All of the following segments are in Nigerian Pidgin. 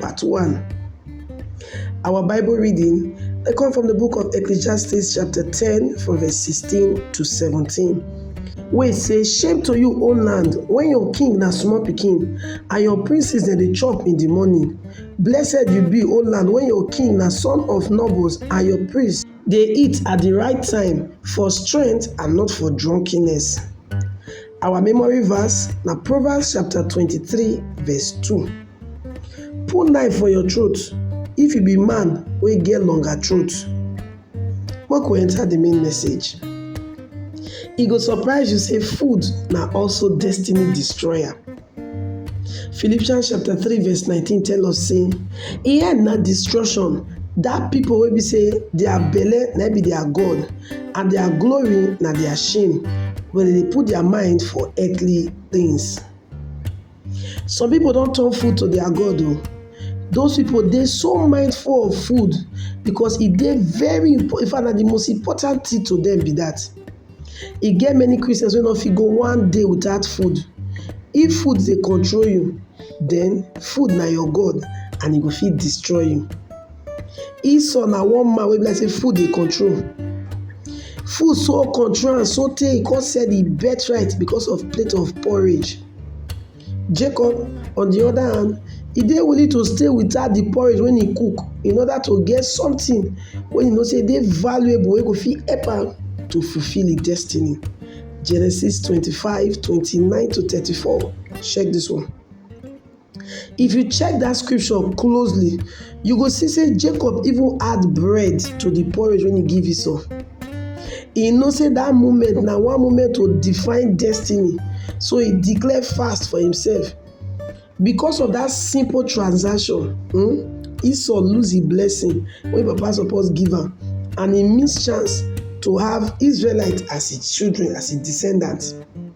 part one. Our Bible reading they come from the book of Ecclesiastes chapter 10 from verse 16 to 17. Wait, say shame to you, O land, when your king na small pikin and your princes dem dey chop in the morning. Blessed you be, O land, when your king na son of nobles and your priests dey eat at the right time for strength and not for drunkenness. Our memory verse na Proverbs chapter 23 verse 2. Put knife for your throat if you be man wey get longer throat. Make we enter de main message. E go surprise you sey food na also destiny destroyer. Philippians chapter three verse nineteen tell us sey e end na destruction dat pipu wey be sey their belle na im be their God and their glory na their shame wen dem dey put their mind for earthly things. Some pipu don turn food to their God oh, those pipu dey so mindful of food because e dey very impor in fact na de most important thing to dem be dat. E get many Christians wey no fit go one day without food, if food dey control you den food na your God and e go fit destroy you. Esau na one man wey be like sey food dey control, food so control am so tey e come sell im birthright because of plate of porridge. Jacob on the other hand, he dey willing to stay without the porridge when he cook in order to get something when he know say dey valuable wey go fit help am to fulfill his destiny. Genesis 25, 29 to 34. Check this one. If you check dat scripture closely, you go see sey Jacob even add bread to de porridge wey e give Esau. E know sey dat moment na one moment to define destiny, so e declare fast for himself. Because of dat simple transaction, um Esau lose im blessing wey im papa suppose give am and e miss chance to have Israelite as im children, as im descendants.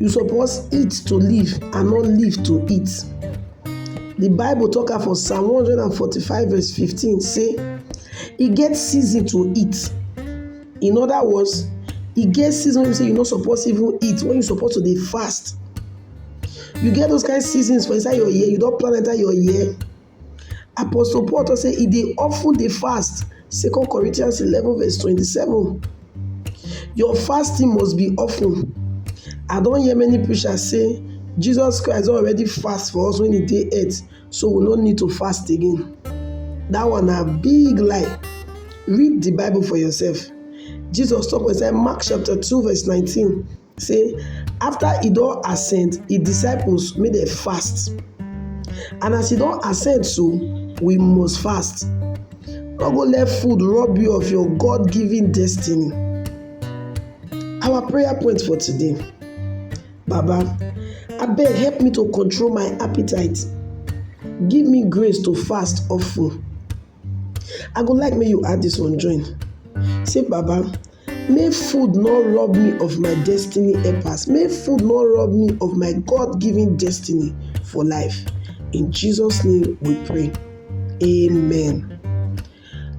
You suppose eat to live and not live to eat. The Bible talk am for Psalm 145 verse 15 say e get season to eat. In other words, e get season wey be say you no suppose even eat when you suppose to dey fast. You get those kind seasons for inside your year, you don plan enter your year Apostle Paul tok sey e dey of ten dey fast, second Corinthians eleven verse twenty seven. Your fasting must be of ten. I don hear many preacher sey Jesus Christ don already fast for us wen e dey earth so we no need to fast again, dat one na big lie. Read de bible for yourself, Jesus tok for inside Mark chapter two verse nineteen say after e don ascend, e disciples make dem fast and as e don ascend so we must fast no go let food rob you of your God given destiny. Our prayer point for today Baba abeg help me to control my appetite give me grace to fast often. I go like make you add dis one join sey baba make food no rob me of my destiny helpers, make food no rob me of my God given destiny for life in Jesus name we pray amen.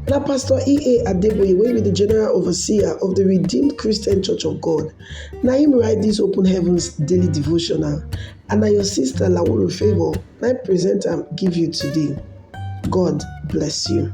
Na Pastor EA Adeboye wey be the General Overseer of the Redeemed Christian Church of God na him write this Open Heavens Daily Devotional and na your sister Lawolo Favour na him present am give you today. God bless you.